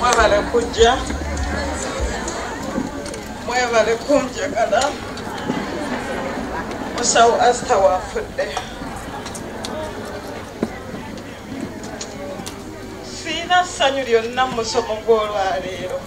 mwebale kujja mwebale kunjagala musawo asita wafudde siina ssanyu lyonna mu musomo gw'olwaleero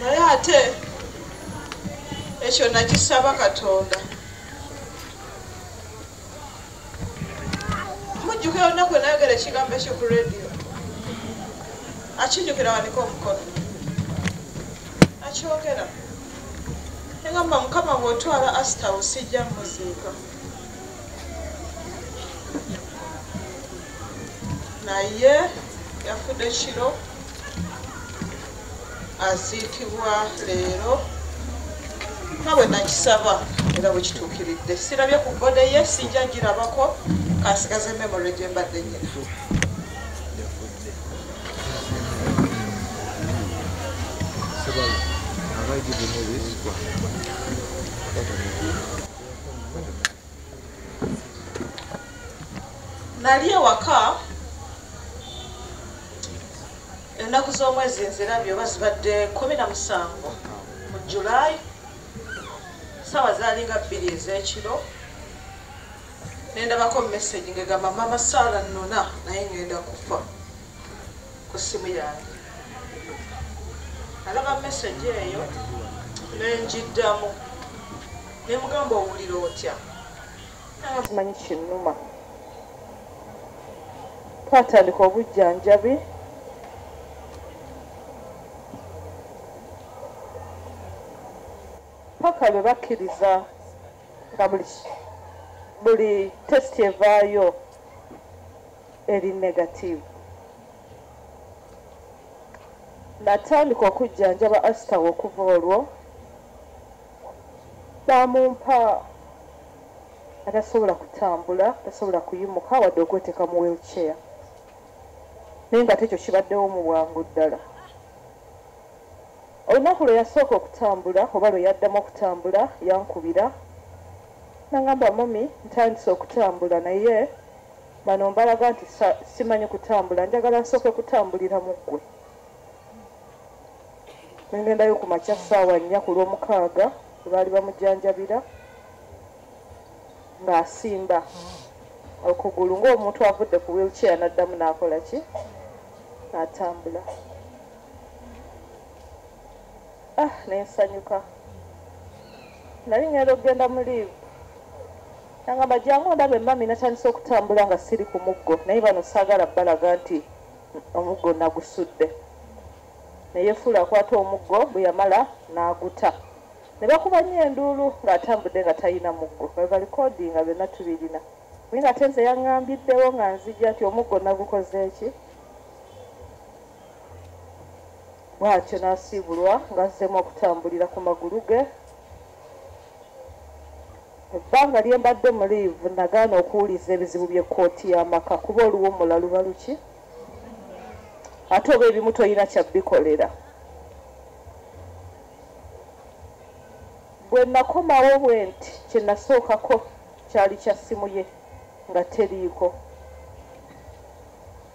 naye ate ekyo nakisaba katonda mujjuka olunaku enayogera ekigambo ekyo ku radio akijukira wanika omukono akyogera egamba mukama bwotwala asita osijja muziika naye yafudde kiro aziikibwa leero nga bwe nakisaba era bwe kituukiridde sirabye ku gode ye sinja ngirabako kansigaze memory gye mbadde nyina Thank you. nali ewaka ennaku z'omwezi nzirabye oba zibadde kumi na musanvu mu julayi saawa zaali nga bbiri ez'ekiro nendabako message ngegamba mama saala nnona naye ngenda kufa ku ssimu yange alaba message eyo nenjiddamu nemugamba owulira otya kimanyi kinnuma twatandika obujjanjabi paka lwe bakkiriza nga buli tesiti evaayo eri negative. Natandika okujjanjaba Astawa okuva olwo baamumpa atasobola kutambula, tasobola kuyimuka wadde okweteeka mu wheelchair naye nga tekyo kibaddewo mu bwangu ddala. Olunaku lwe yasooka okutambula oba lwe yaddamu okutambula yankubira nangamba mami ntandise okutambula naye Bano mbalaga nti simanyi kutambula njagala nsooke kutambulira mu ggwe nengendayo ku makya ssaawa nnya ku lwomukaaga lwebaali bamujjanjabira ng'asimba okugulu ng'omuntu avudde ku wheelchair n'addamu n'akola ki n'atambula ah nensanyuka nali ngenda okugenda mu liivu Nangamba jangu ondabe mami natandise okutambula nga siri ku muggo naye bano saagala balaga nti omuggo nagusudde neyefuula akwata omuggo bwe yamala n'aguta ne bakuba nnyo enduulu ng'atambudde nga talina muggo nga balikodi nga byonna tubirina naye ngate nze yaŋŋambiddewo nga nzija nti omuggo nagukozeeki bwatyo n'asiibulwa ng'azzeemu okutambulira ku magulu ge Mu bbanga lye mbadde mu liivu nagaana okuwuliriza ebizibu by'ekkooti y'amaka kuba oluwummula luba luki ate oba ebimu tolina kya bikolera. Bwe nakomawo bwe nti kye nasookako kyali kya ssimu ye nga teriiko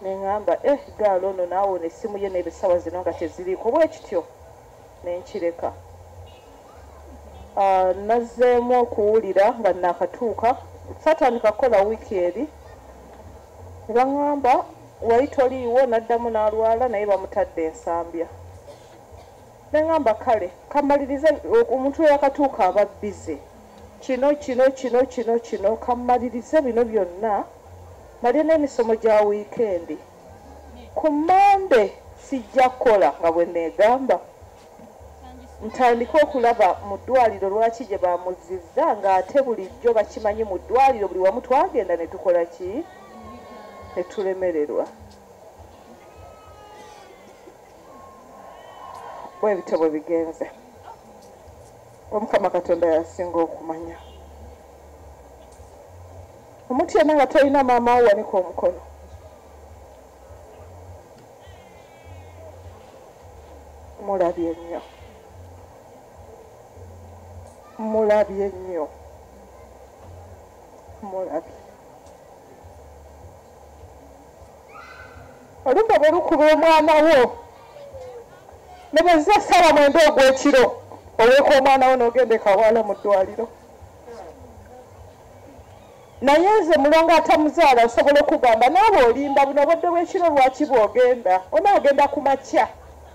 ne ŋŋamba eh gaali ono naawe ono essimu ye n'ebisawa zino nga teziriiko bwe kityo. ne nkireka. Nazzeemu okuwulira nga nnaakatuuka, saatandika kukola wiiki eri, ne baŋŋamba wali toliiwo, n'addamu n'alwala naye bamutadde e Nsambya. Ne ŋŋamba kale ka mmalirize, omuntu eyaakatuuka aba bbize, kino, kino, kino, kino, kino, ka mmalirize bino byonna mmalire n'emisomo gya wiikendi. Ku Mmande sijja kukola nga bwe nneegamba, ntandike okulaba mu ddwaaliro lwaki gye baamuzzizza ng'ate bulijjo bakimanyi mu ddwaaliro buli wamu twagenda ne tukola ki ne tulemererwa. Bwe bityo bwe bigenze. Omukama Katonda y'asinga okumanya. Omuntu yenna nga tolina maama wo wanika omukono. Mulabye nnyo. Mulabye nnyo. Mulabye. Olumbe bwe lukuba omwana wo ne bwe ziza essaawa mwenda ogw'ekiro oweeka omwana wo n'ogenda ekawala mu ddwaliro. naye nze mulongo atamuzaala nsobola okugamba naawe olimba buno obudde bwekiro lwaki bwogenda onaagenda ku makya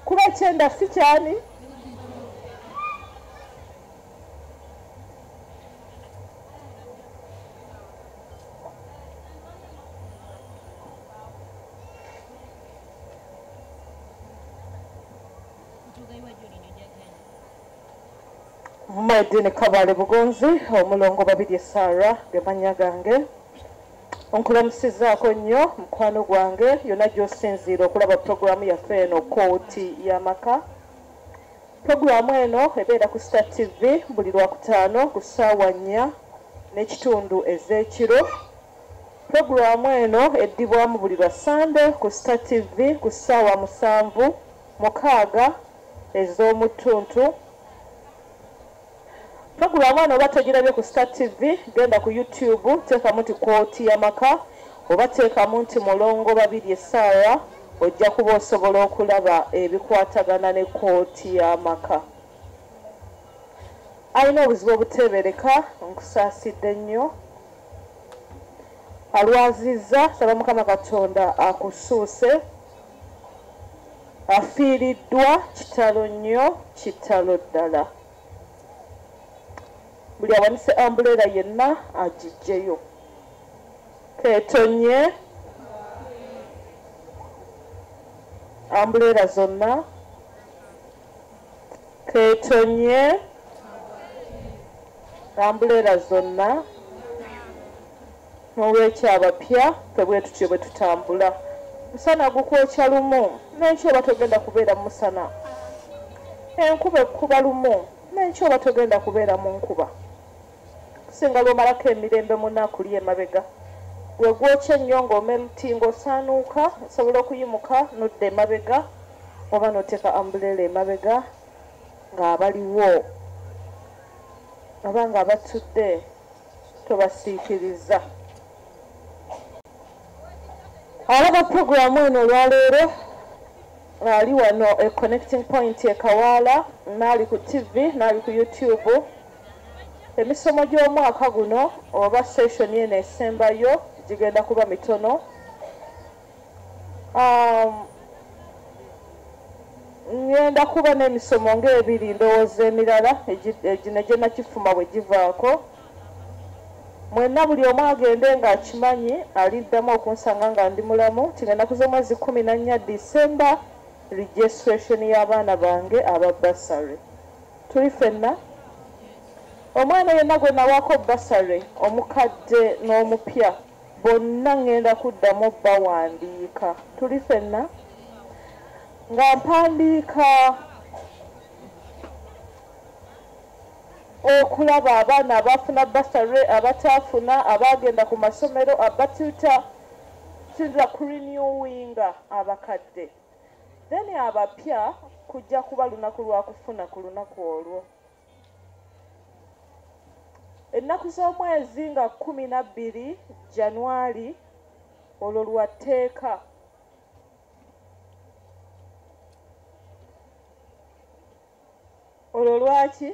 kuba ekyenda si kyani Maidini Kabale Bugonzi omulongo Babirye Sarah ge mannya gange onkulamusizaako nnyo mukwano gwange yonna gy'osinziira okulaba pulogulaamu yaffe eno kooti y'amaka pulogulaamu eno ebeera ku star tv buli lwakutaano ku ssaawa nnya n'ekitundu ez'ekiro pulogulaamu eno eddibwamu buli lwa ssande ku star tv ku ssaawa musanvu mukaaga ez'omu ttuntu Pulogulaamu wano oba togirabye ku Star TV, genda ku YouTube, teekamu nti kkooti y'amaka oba teekamu nti mulongo Babirye Sarah ojja kuba osobola okulaba ebikwatagana ne kkooti y'amaka. Alina obuzibu obuteebereka nkusaasidde nnyo. Alwazizza saba Mukama Katonda akusuuse. afiiriddwa kitalo nnyo kitalo ddala buli awanise ambuleera yenna agijjeyo ketonye ambuleera zonna ketonye ambuleera zonna N'olwekyo abapya ffe bwe tutyo bwe tutambula. Omusana gukwokya lumu, n'enkya oba togenda kubeera mu musana. Enkuba ekukuba lumu, n'enkya oba togenda kubeera mu nkuba. Okusinga lw'omalako emirembe mu nnaku lyo emabega, gwe gwokya ennyo ng'omeltinga, osaanuuka, osobola okuyimuka n'odda emabega oba n'oteeka ambuleela emabega ng'abaliwo oba ng'abatudde. tobasiikiriza alaba puroguramu eno olwaleero ali wano e connecting point ekawaala naali ku tv naali ku youtube emisomo gy'omwaka guno oba session eno esembayo gigenda kuba mitono um, ngenda kuba n'emisomo ng'ebiri ndowooza emirala egine gye nakifuma bwe givaako mwenna buli omu agende ng'akimanyi aliddamu okunsanga nga ndi mulamu tigenda kuza omwezi kumi na nnya disemba registration y'abaana bange aba basary tuli fenna omwana yenna gwe nawaako basary omukadde n'omupya bonna ŋŋenda kuddamu obbawandiika. Tuli fenna? Nga mpandiika okulaba abaana abaafuna basare, abataafuna, abaagenda ku masomero, abatuta, tuyinza kurenewinga abakadde. Then abapya kujja kuba lunaku lwa kufuna ku lunaku olwo. ennaku z'omwezi nga kkumi na bbiri janwali olwo lwa tteeka olwo lwaki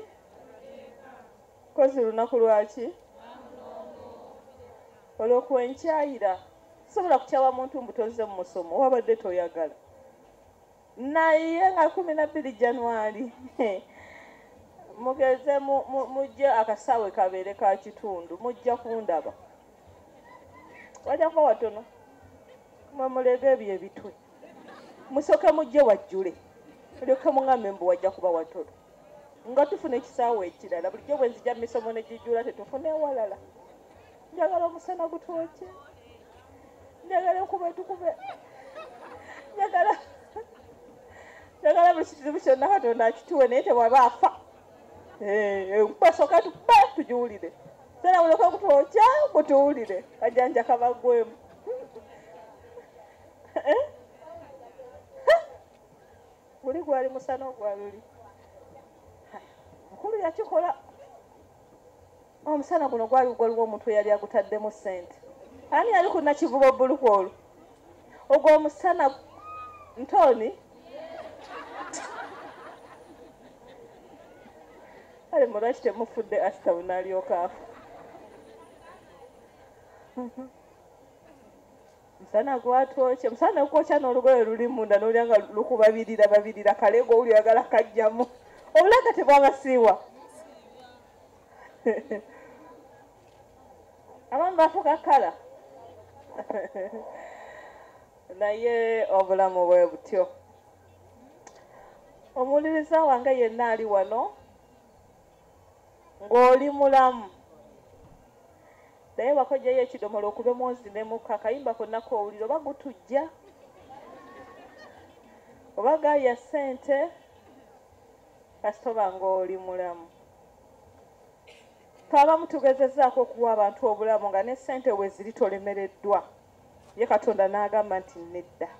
kozi lunaku lwaki olwo kwenkyayira sobola kutyawa muntu mbutoze mu musomo wabadde toyagala naye nga kumi nabbiri januari mugeze mujje akasaawe kabeere ka kitundu mujja kundaba wajja kuba watono mwe mulega ebyo ebitwe musooke mujje wajjule olyoke muŋambe mbu wajja kuba watono nga tufuna ekisaawe ekirala bulijjo bwe nzija misomo ne gijjula tetufuna ewalala njagala omusana gutwoke njagala enkuba etukube njagala njagala buli kizibu kyonna katonda akituwe naye tewaba afa enkuba eh, soka tupe tugiwulire sera buloka kutwokya mutuwulire kajanja kabagwemu eh? guli gwali musana ogwaluli mukulu yakikola omusana guno gwali gwaliwo omuntu eyali agutaddemu ssente ani yali ku nakivuba obbuluku olwo ogwo omusana ntoni kale mulwaki temufudde asitabu nalyoka afa musana gwatwokye musana okwokya n'olugoye luli munda nolya nga lukubabirira babirira kale gwe owuli oyagala kajjamu obulaga tebwabasiiwa abamu bafuka kala naye obulamu bwe butyo omuwuliriza wange yenna ali wano ng'oli mulamu naye wakojjayo ekidomola okube mwozimemuka akayimba konna kowulira oba gutujja oba gaya ssente kasita oba ng'oli mulamu twabamu tugezezaako okuwa abantu obulamu nga ne ssente we ziri tolemereddwa ye katonda n'agamba nti nedda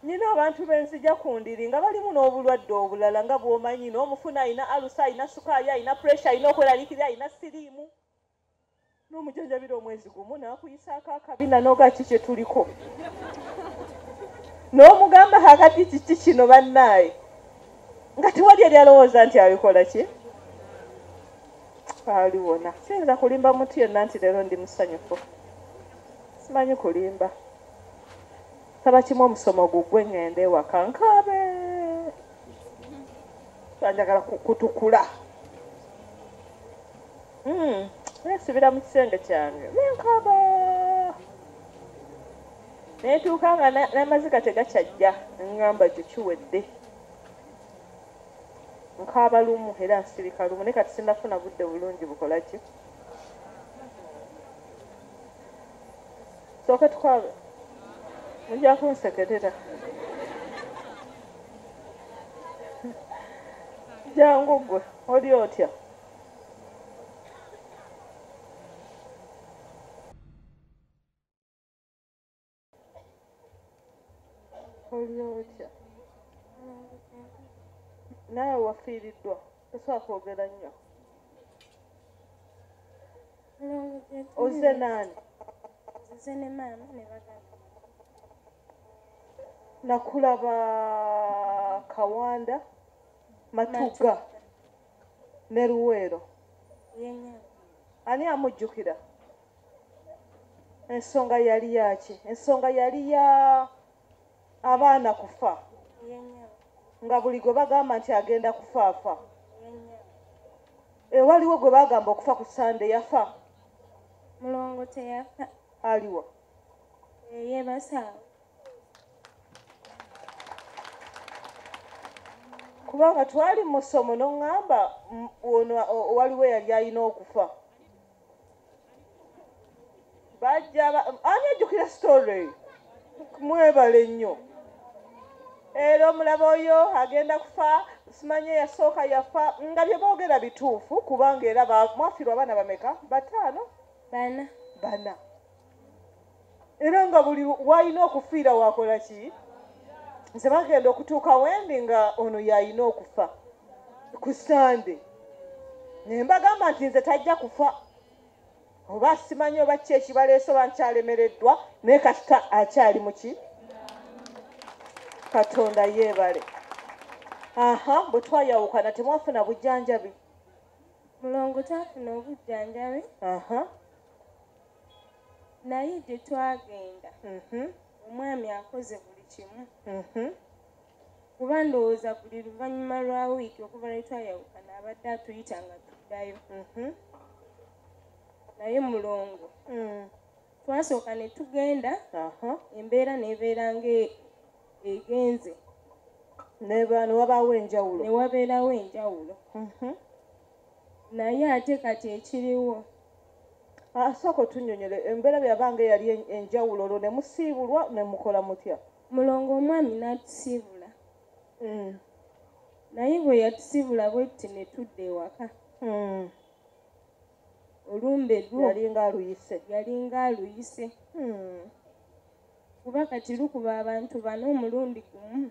nina abantu benzija ku ndiri nga balimu n'obulwadde obulala nga bw'omanyi n'omufuna alina alusa alina sukaali alina puresha alina okweralikira alina siriimu n'omujanjabira omwezi gumu n'akuyisaako akabina noga ki kye tuliko n'omugamba kakati kiki kino bannaaye nga tewali eri alowooza nti abikola ki ali wona siyinza kulimba mutu yenna nti leero ndi musanyufu simanyi kulimba saba kimu omusomo gugwe ngende ewaka nkaabe banjagala kutukula Hmm, nesibira mu kisenge kyange nenkaba netuuka nga n'amaziga tegakyajja ngamba ekyo kiwedde nkaaba lumu era nsirika lumu naye kati sinafuna budde bulungi bukola ki sooke tukwabe mujja kunsekerera jangu gwe oli otya olyotya naawe wafiiriddwa tosobola kwogera nnyo ozze naani nze ne maama ne baganda nakulaba kawanda matuga ne luweero ani amujjukira ensonga yali yaki ensonga yali ya abaana kufa nga buli gwe bagamba nti agenda kufaafa ewaliwo gwe bagamba okufa ku sande yafa mulongo teyafa aliwo yebasaawa kubanga twali mu ssomo n'oŋŋamba ono waliwo eyali alina okufa bajja ani ajjukira sitore eyo mwebale nnyo era omulaba oyo agenda kufa simanye yasooka yafa nga bye boogera bituufu kubanga era mwafirwa abaana bameka bataano bana bana era nga buli walina okufiira wakola ki nze bagenda okutuuka wendi nga ono yalina okufa ku sande naye mbagamba nti nze tajja kufa oba simanyi oba ki ekibaleese oba nkyalemereddwa naye kasita akyali muki katonda yeebale aha bwe twayawukana temwafuna bujjanjabi mulongo tafuna obujjanjabi aha naye gye twagenda mhm. omwami akoze buli kimu mhm. kuba ndowooza buli luvannyuma lwa wiiki okuva lwe twayawukana abadde atuyita nga tuddayo mhm. naye mulongo mm. twasooka ne tugenda embeera nebeera nga e, egenze newabeerawo enjawulo naye ate kati ekiriwo ah, sooka otunyonyole embeera byabange yali enjawulo olwo ne musiibulwa ne mukola mutya mulongo omwami n'atusiibula hmm. naye bwe yatusiibula bwetti ne tudda ewaka hmm. olumbe lwo yalinga aluyise yalinga aluyise hmm. kuba kati lukuba abantu bana omulundi gumu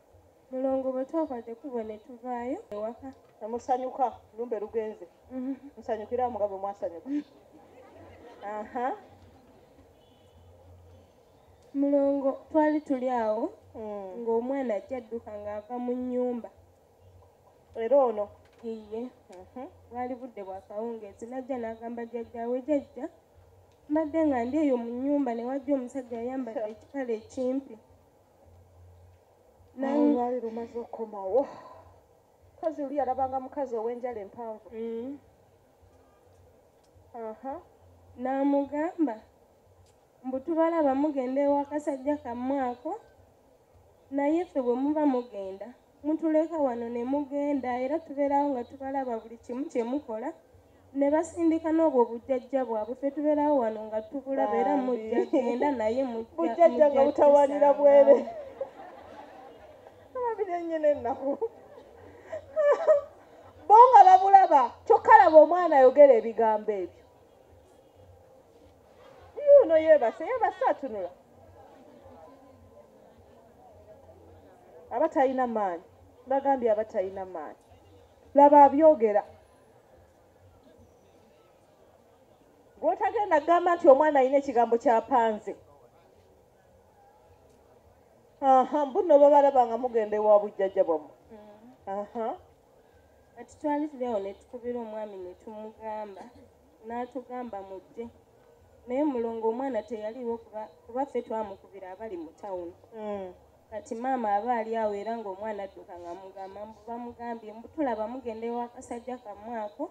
mulongo bwe twakwate kubo ne tuvaayo ewaka ne musanyuka lumbe lugenze mhm. musanyukira awo nga bwe mwasanyuka aha mulongo twali tuli awo mm. ng'omwana ajja adduka ng'ava mu nnyumba era ono iye mhm. bwali budde bwa kawungeezi najja n'agamba jjajjaawe jajja mbadde nga ndi eyo mu nnyumba ne wajja omusajja ayambadde ekipale ekimpi nayelwali lumaze okukomawo kazi oli yalabanga mukazi ow'enjala empanvu mm. aha n'amugamba mbu tubalaba mugenda ewakasajja kammwako naye ffe bwe muba mugenda mutuleka wano ne mugenda era tubeerawo nga tubalaba buli kimu kye mukola ne basindika n'obwo bujjajja bwabwe fe tubeerawo wano nga tubulaba era mujja genda naye bujjajja nga butawanira bwere ababiri enyina ennaku bo nga babulaba kyokka laba omwana ayogera ebigambo ebyo yuuno yeebase yeebase atunula aba talina maanyi bagambye aba talina maanyi laba abyogera gwotagenda gamba nti omwana alina ekigambo kyapanze aha mbuno babalaba nga mugenda ewa bujjajja bwamwe mm. aha kati twali tuli awo netukubira omwami netumugamba n'atugamba mujje naye mulongo omwana teyaliwo kuba ffe twamukubira abali mu tawuni hmm. kati maama aba ali awo era ng'omwana adduka nga mugamba bamugambye mbutulaba mugenda ewakasajja kamwako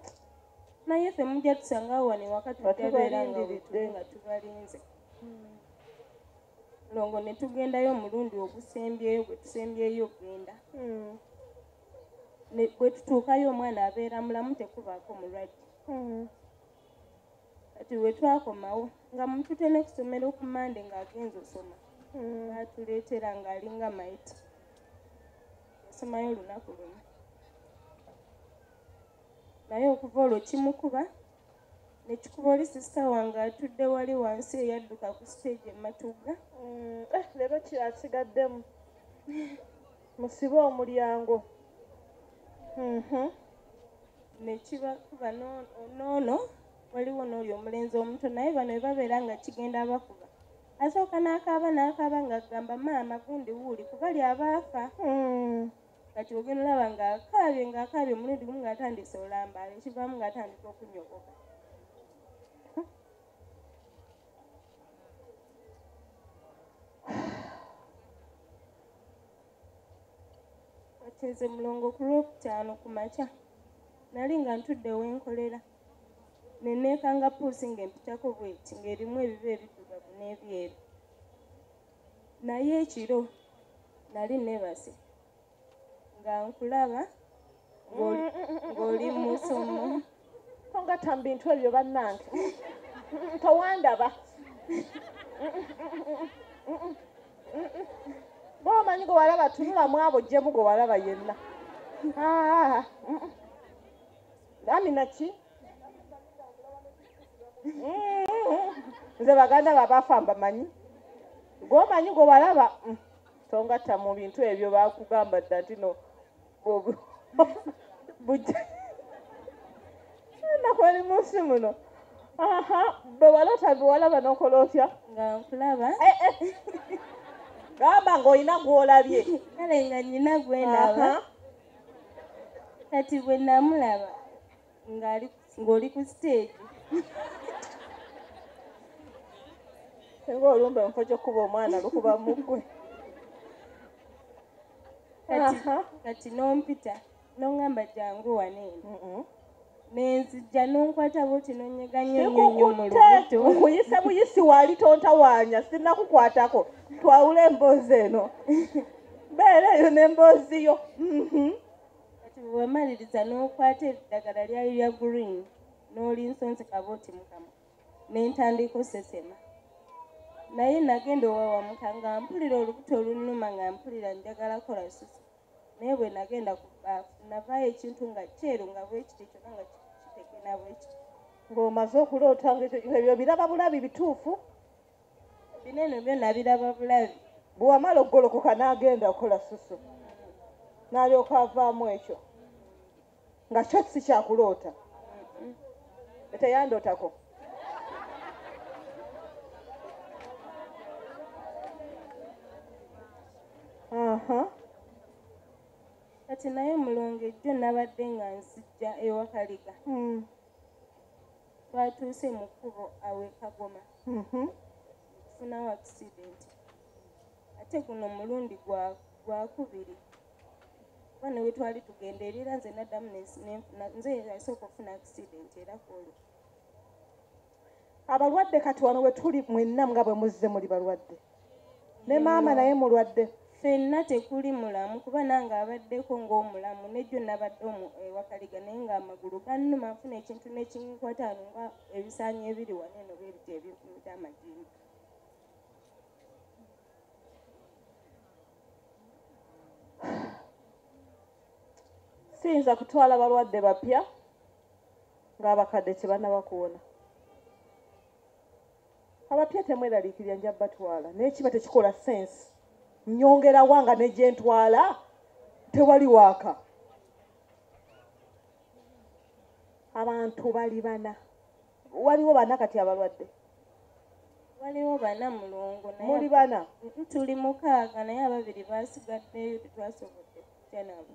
naye ffe mujja tusangawo wano ewaka tutabeera nga nga tubalinze hmm. longo ne tugendayo omulundi ogusembyeyo gwe tusembyeyo okugenda hmm. bwe tutuukayo omwana abeera mulamu tekubaako mulwadde hmm. kati wetwakomawo nga mutute nekusomera okumande nga agenza osoma hmm. atuleetera nga alinga maiti yasomayo olunaku lumu naye okuva olwo kimukuba nekikuba oli sisita wange atudde wali wansi eyadduka ku siteegi ematugga hmm. eh, leero kyasigaddemu musibe omulyango Mm-hmm. nekiba kuba noono waliwo nooli omulenzi omuto naye bano webabeera nga kigenda abakuba asooka n'akaaba n'akaaba nga agamba maama gundi wuuli kubali abaafa hmm. kati ogenda olaba ng'akaabye ng'akaabye omulundi gumu ng'atandise olambaala ekivaamu ng'atandika okunyogoka kati nze mulongo ku lwokutaano ku makya nali nga ntudde wenkolera neneekanga puusi ng'empitako bweti ng'erimu ebiba ebiddugavu n'ebyeru naye ekiro nali nebase nga nkulaba ng'oli musomo tongata mu bintu ebyo bannange towandaba bomanyi gwe walaba tunula mwabo jjemu gwe walaba yenna ah, mm, mm. amina ki mm, nze baganda babafa mbamanyi gwomanyi gwe walaba tongatta mu bintu ebyo bakugamba dda ntino nakwali munsi muno aha bwe walota biwalaba nokola otya nga nkulaba eh, eh. gamba ngaolina gwolabye kale nga nyina gwenaba kati bwe namulaba ng'oli ku siteegi singa olumba emufo kyokukuba omwana lukuba mugwe kati nompita nongamba jangu waneeno nenzija nonkwata buti nonyeganyenyonyomulukuyisa buyisi wali tontawanya sinakukwatako twawula emboozi eno beera eyo nemboozi yo mhm. kati bwewamaliriza n'okwata eddagala lyayo lya green n'olinsonsekaba oti mukama nentandika osesema naye nagenda owawamuka nga mpulira olubuto olunuma nga mpulira njagala kola susa naye bwe nagenda ku baafu navaayo ekintu nga kyeru nga bwekiti kyona nga kitekena bwekiti ng'omaze okuloota nga ekyo ebyo biraba bulabi bituufu bino eno byona biraba bulabi bwewamala okugolokoka n'agenda okola susu n'alyoka avaamu ekyo nga kyo si kyakuloota eteyandootako kati naye mulongo ejjo nabadde nga nzijja ewakaliga hmm. twatuuse mu kkubo awe kagoma mhm. tufunawo akisidenti ate guno omulundi gwakubiri kuba newe twali tugenda erira nze naddamu nze yasooka okufuna akisidenti era kwolwo abalwadde kati wano wetuli mwenna nga bwe muzze muli balwadde ne maama naye mulwadde fenna tekuli mulamu kuba nange abaddeko ng'omulamu nejjo nabadde omu ewakaliga naye ng'amagulu gannuma nfuna ekintu nekinkwata ano nga ebisaanyi ebiri wano eno bebiti ebinfumita amajimba siyinza kutwala balwadde bapya ng'abakadde tebanaba kuwona abapya temweraliikirira nja batwala naye kiba tekikola sense nyongerawa nga negyentwala tewali waaka abantu bali bana waliwo bana kati abalwadde waliwo bana mulungu muli bana tuli mukaaga naye ababiri basigaddeyo tetwasobodde kyanabo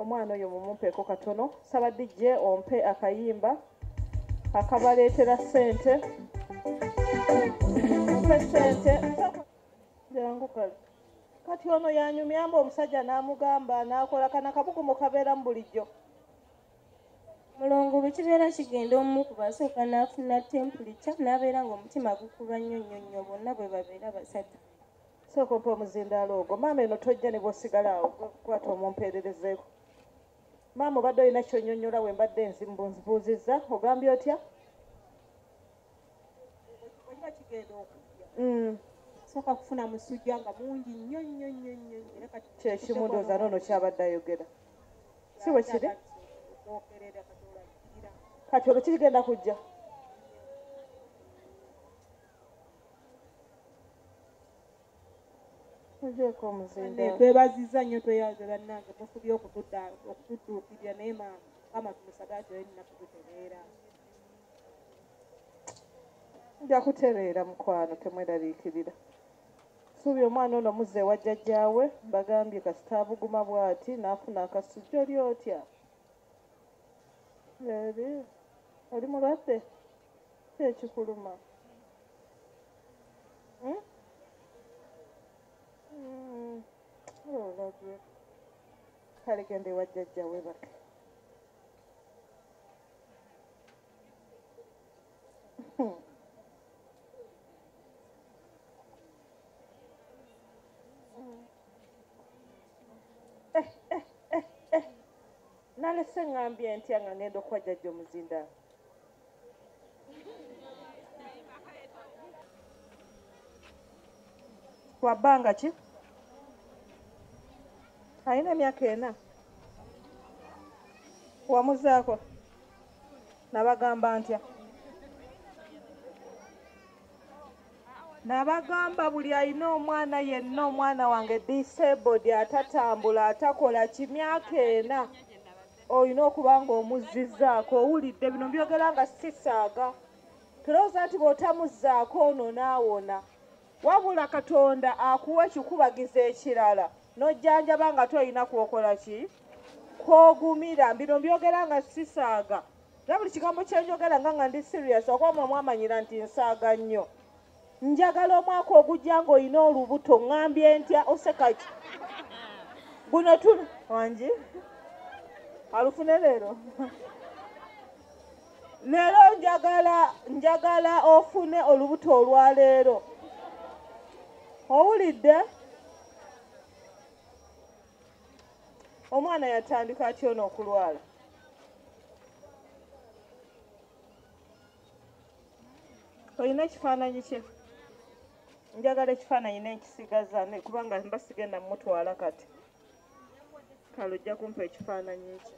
omwana oyo mumumpeko katono saba dj ompe akayimba akabaleetera sente mpe sente jangu kale kati ono yanyumyamba omusajja n'amugamba n'akola kana kabugumu kabeeramu bulijjo mulongo bwe kibeera kigenda omu ku basooka n'afuna tempulikya n'abeera ng'omutima gukuba nnyo nnyo nnyo bonna bwe babeera basatu sooka ompa omuzindaalo ogwo maama eno tojja ne bwosigala awo kwata omumpeererezeeko maama obadde olina kyonyonyola we mbadde nzibuuzizza ogambye otya mm. sooka kufuna musujja nga mungi nnyo nnyo nnyo nnyo kyekimu ndooza noono kyabadde ayogera si bwe kiri kati olwo kirigenda kujja twebaziza nnyo tweyaze bannange mufubye okutudda okutudduukirira naye maama kama tumusagaati oyo nina kututereera nja kutereera mukwano temweraliikirira suubira omwana ono muzza ewa jjajjaawe mbagambye kasita abuguma bw'ati n'afuna akasujja oli otya oli mulwadde ki ekikuluma hmm? Hmm. olabye oh, kale genda ewa jjajja webaka hmm. Nalese ngambye ntya nga ngenda okuwa jajja omuzinda. Kwa bbanga ki? Alina emyaka ena. Wamuzaako nabagamba ntya? nabagamba buli alina omwana yenna omwana wange disabled atatambula atakola kimyaka ena olina okuba nga omuzzizaako owulidde bino byogera nga sisaaga tulowooza nti bw'otamuzzaako ono naawona wabula katonda akuwa ekikubagiza ekirala n'ojjanjaba nga tolina kwokola ki kwogumira bino byogera nga sisaaga era buli kigambo kyenjogera nga nga ndi serious okuba mwe mwamanyira nti nsaaga nnyo njagala omwaka ogujja ng'olina olubuto ŋambye ntya osekaki guno tu wangi alufune leero leero njagala njagala ofune olubuto olwa leero owulidde omwana yatandika atya ono okulwala olina ekifaananyi kye njagala ekifaananyi nenkisigaza kubanga mba sigenda mumutwala kati kale ojja kumpa ekifaananyi ekyo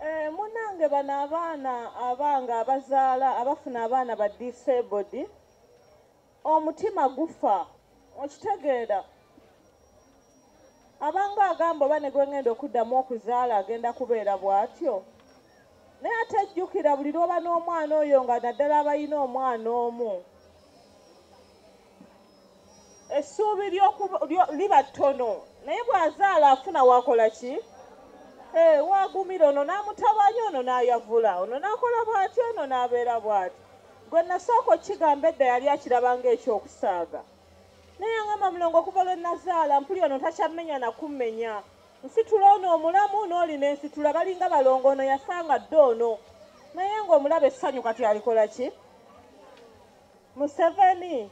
Eh, munange bano abaana abange abazaala abafuna abaana ba disabled omutima gufa okitegeera abange agamba oba ne gwengenda okuddamu okuzaala agenda kubeera bw'atyo naye ate jjukira buli lwoba n'omwana oyo nga naddala abalina omwana omu essuubi liba ttono naye bw'azaala afuna wakola ki eh, wagumira ono n'amutabanya ono n'ayavula ono n'akola bw'atyo ono n'abeera bw'atyo gwe nasooka okukigamba edda yali akiraba ng'ekyokusaaga naye angamba mulongo okuva lwe nazaala mpuli ono takyammenya nakummenya nsitula ono omulamu n'oli nensitula balinga balongo ono yasanga dde ono naye ng'omulaba essanyu kati alikola ki museveni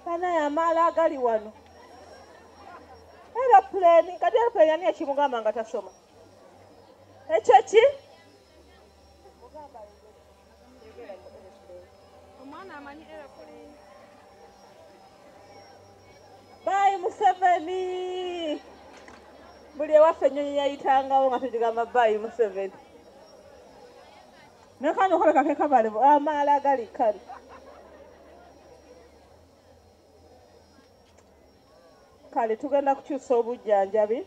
banaye amaala agali wano eropuleni kati eropuleni ani ekimugamba nga tasoma ekyo ki Bye Museveni. Buli ewaffe ennyonyi yayitangawo nga tugigamba bye Museveni. Naye kano okoleka ke kabale amaala agali kali. Kale tugenda kukyusa obujjanjabi.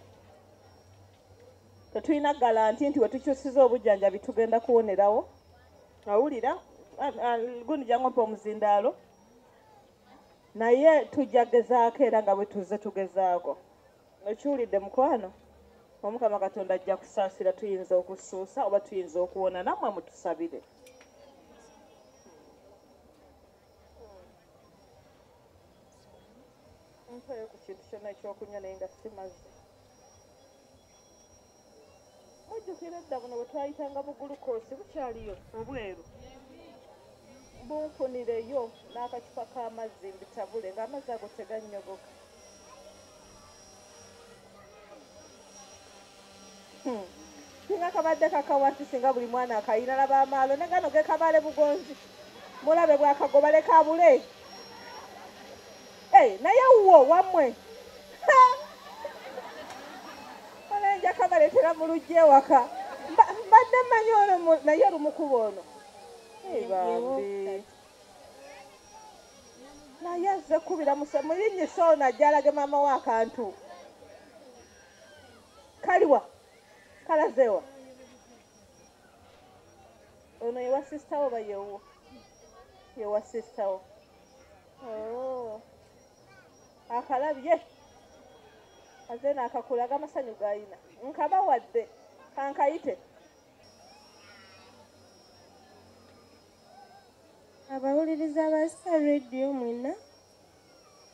tetulina galanti nti wetukyusiza obujjanjabi tugenda kuwonerawo awulira gundi jangompa omuzindaalo naye tujja gezaako era nga bwetuze tugezaako okiwulidde mukwano omukama katonda ajja kusaasira tuyinza okusuusa oba tuyinza okuwona namwe mutusabire nkoyo ku kintu kyona ekyokunywa naye nga simazi mujjukira edda buno bwetwayitanga mu gulukoosi bukyaliyo obweru bunfunireyo n'akacupa k'amazzi mbitabule ng'amazzi ago tegannyogoka hmm. singa kabadde kakawasi singa buli mwana akayina laba amaalo ne gano gekabale bugonzi mulabe bwakagobaleka abule Hey, naye wuwo wamwe olenja kabaletera mu lujja ewaka mbadde manyi ono naye olumukuba ono bambi naye azze kubira muyinyisa ono ajjalage maama wo akantu kaliwa kalazewa ono yewa sisita wo bayewo yewa sisita wo Oh. akalabye aze nakakulaga amasanyu gayina nkaba wadde kankayite abawuliriza ba star radio mwena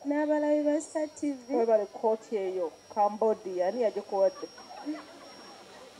n'abalabi ba star tv webale kooti eyo cambodia ani yagikuwadde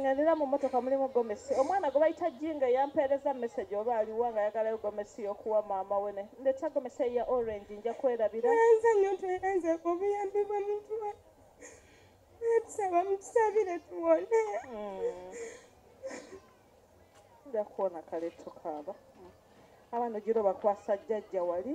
ng'endera mu mmotoka mulimu gomesi omwana gwe bayita jinga yampeereza mesegi oba aliwa nga yagalayo gomesi y'okuwa maama we ne ndeta gomesi eya orange nja kwerabira enze nyo tuyenze obuyambi bwa muntu wa tusaba mutusabire tuwone nja kuwona kale tukaaba abaana ogira obakwasa jjajja wali